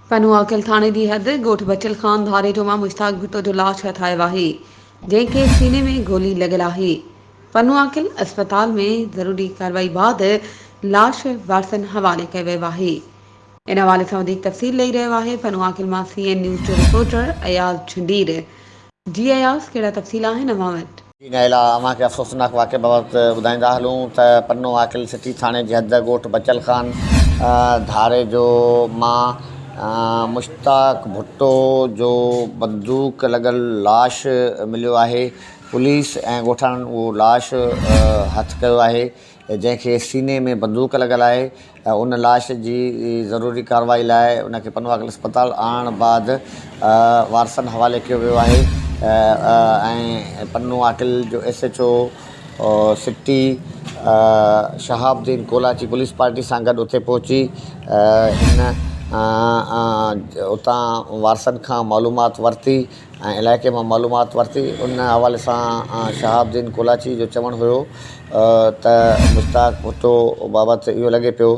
پنهون آڪل ٿاڻي جي حد ڳوٺ بچل خان ڌاريجو مان مشتاق ڀٽو جو لاش هٿايو آهي، جنهن کي سيني ۾ گولي لڳل آهي. پنهون آڪل اسپتال ۾ ضروري ڪارروائي بعد لاش وارثن حوالي ڪيو ويو آهي. ان حوالي سان وڌيڪ تفصيل ڏئي رهيو آهي پنهون آڪل مان سي اين نيوز جو رپورٽر اياز جھنڊير. جي اياز ڪهڙا تفصيل آهن اوهان وٽ؟ ان کان علاوه اوهان کي افسوسناڪ واقعي بابت ٻڌائيندا هلون ته پنو عاقل سٽي ٿاڻي جي حد ڳوٺ بچل خان ڌاريجو مان مشتاق ڀٽو جو بندوق لڳل لاش مليو آهي پوليس ۽ ڳوٺاڻن اهو لاش هٿ ڪيو آهي جنهن کي سيني ۾ بندوق لڳل آهي ۽ ان لاش جي ضروري ڪارروائي لاء ان کي پنواڪل اسپتال آڻڻ بعد وارثن حوالي ڪيو ويو آهي ۽ پنواڪل جو S H O city Shahab Uddin Kolachi police party سان گڏ اتي پهچي هن اتان وارثن کان معلومات ورتي ۽ علائقي مان معلومات ورتي. ان حوالي سان شهاب الدين ڪولاچي جو چوڻ هيو ته مشتاق ڀٽو بابت اهو لڳي پيو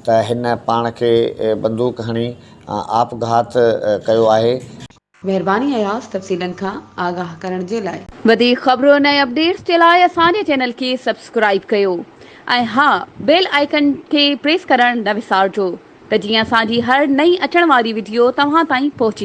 ته هن پاڻ کي بندوق هڻي آپگهات ڪيو آهي. مهرباني اياز تفصيلن کان آگاهه ڪرڻ جي لاء. وڌيڪ خبرن ۽ اپڊيٽس جي لاء اسان جي چينل کي سبسڪرائيب ڪيو ۽ ها بيل آئيڪن کي پريس ڪرڻ نه وسارجو ته جيئن اسان جي هر نئين اچڻ واري وڊيو توهان تائين پهچي.